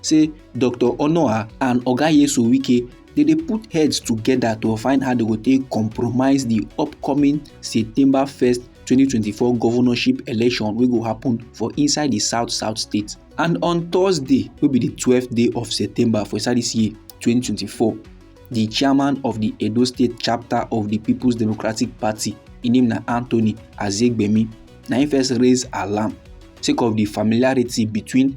say dr onuoha and oga nyesom wike dey dey put heads togeda to find how dey go take compromise di upcoming september 1st 2024 governorship election wey go happen for inside di south south state and on thursday wey be di 12th day of september for inside dis year 2024 di chairman of di edo state chapter of di peoples democratic party im name na anthony azegbemi na im first raise alarm sake of di familiarity between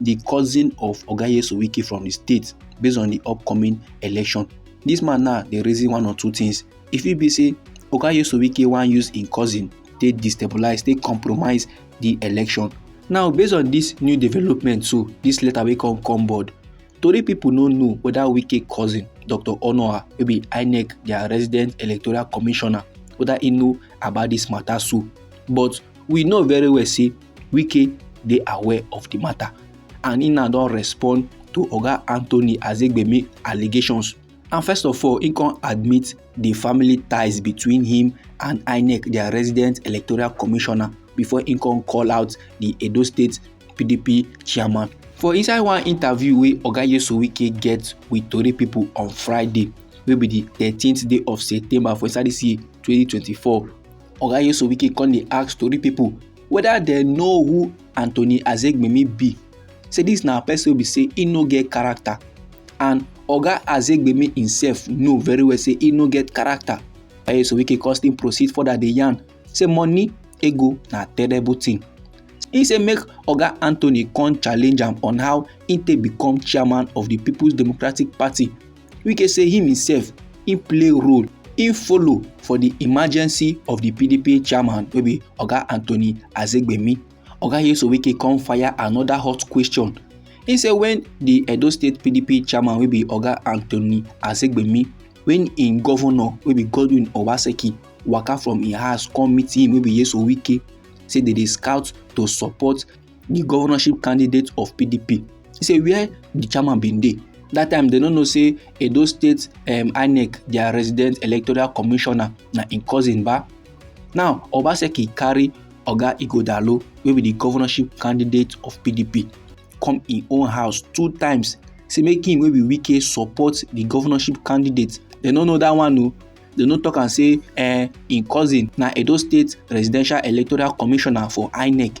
the cousin of Oga Yesowiki from the state based on the upcoming election. This man now dey reason one or two things. E fit be say Oga Yesowiki wan use im cousin take destabilize, take compromise the election. Now based on this new development so, this letter wey come come board, tori people no know whether Wike cousin Dr. Onoha wey be INEC their resident electoral commissioner whether he know about this matter so. But we know very well say wike dey aware of di matter and im now don respond to oga anthony azegbemi allegations and first of all im come admit di family ties between him and inec dia resident electoral commissioner before im come call out di edo state pdp chairman for inside one interview wey oga yesu wike get wit tori pipo on friday wey be di thirteenth day of september for inside dis year twenty twenty four oga yesu wike come dey ask tori pipo whether they know who anthony azegbemi be say this na person wey be say he no get character and oga azegbemi himself know very well say he no get character eh, so we can cause him proceed further dey yarn say money ego na terrible thing he say make oga anthony come challenge am on how he take become chairman of the people's democratic party wike say him himself im play role im follow for di emergency of di pdp chairman wey be oga anthony azegbemi oga yeso wike come fire anoda hot question im say wen di edo state pdp chairman wey be oga anthony azegbemi wen im governor wey be godwin obaseki waka from im house come meet him wey be yeso wike say dem dey scout to support di governorship candidate of pdp e say wia di chairman bin dey dat time dem no know say edo state um, inec dia resident electoral commissioner na im cousin ba now obaseki carry oga igodalo wey be di governorship candidate of pdp come im own house two times say make him wey be wike support di governorship candidate dem no know dat one o dem no tok am say eh, im cousin na edo state residential electoral commissioner for inec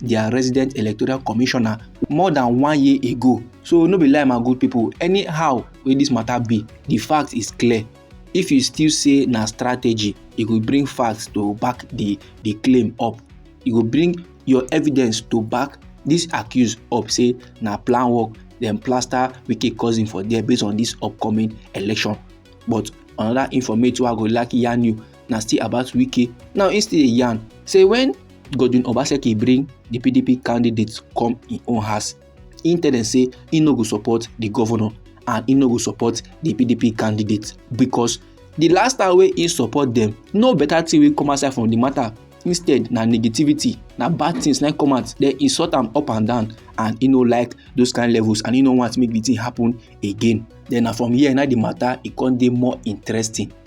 their resident electoral commissioner more than one year ago so no be lie my good people anyhow wey this matter be the fact is clear if you still say na strategy you go bring facts to back the the claim up you go bring your evidence to back this accuse up say na plan work dem plaster wike cousin for there based on this upcoming election but another informate wey i go like yarn you na still about wike now he still dey yarn say when godwin obaseki bring the pdp candidates come im own house he tell dem say he no go support the governor and he no go support the pdp candidate because the last time wey he support them no better thing wey come outside from the matter instead na negativity na bad things na come out dem insult am up and down and he no like those kind levels and he no want make the thing happen again then na from here na the matter e come dey more interesting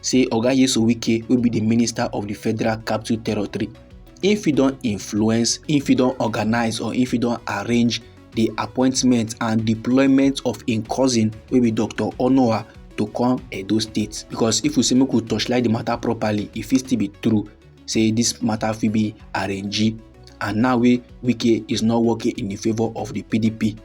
say oga yeso wike wey be di minister of di federal capital territory if e don influence if e don organise or if e don arrange di appointment and deployment of im cousin wey be dr onoa to come edo state because if we say make we torchlight di matter properly e fit still be true say dis matter fit be arrangee and now wey wike is not working in di favour of di pdp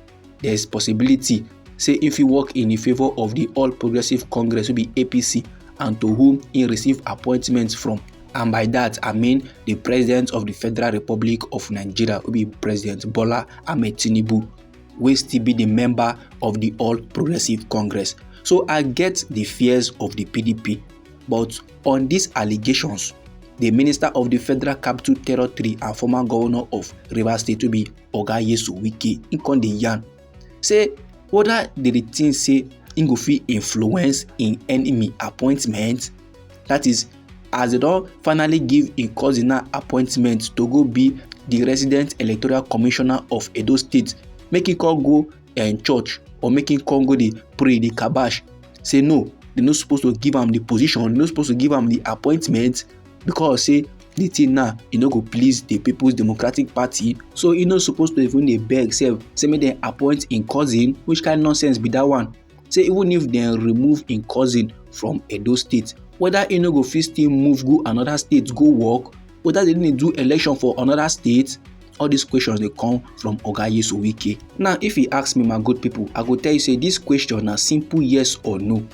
there is possibility say im fit work in di favour of di all progressives congress wey be apc and to whom im receive appointment from and by dat i mean di president of di federal republic of nigeria wey be president bola ahmed tinubu wey still be di member of di all progressives congress so i get di fears of di pdp but on dis allegations di minister of di federal capital territory and former govnor of rivers state wey be oga yesu wike im come dey yarn say whether they dey think say im go fit influence im enemy appointment that is as they don finally give im cousin now appointment to go be the resident electoral commissioner of edo state make im come go um, church or make im come go dey pray dey kabash say no they no suppose to give am the position they no suppose to give am the appointment because say the thing now e no go please the people's democratic party so e no suppose to even dey beg sef say make dem appoint im cousin which kind nonsense be that one say even if dem remove im cousin from edo state whether e no go fit still move go another state go work whether dem dey do election for another state all these questions dey come from oga yesu wike now if you ask me my good people i go tell you say this question na simple yes or no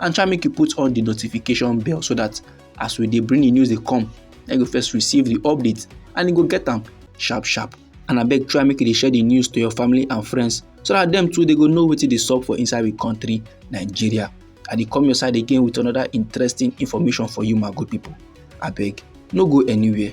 and try make you put on the notification bell so that as we dey bring the news dey come na you go first receive the update and you go get am sharp sharp and abeg try make you dey share the news to your family and friends so that dem too dey go know wetin dey sup for inside we country nigeria i dey come your side again with another interesting information for you my good people abeg no go anywhere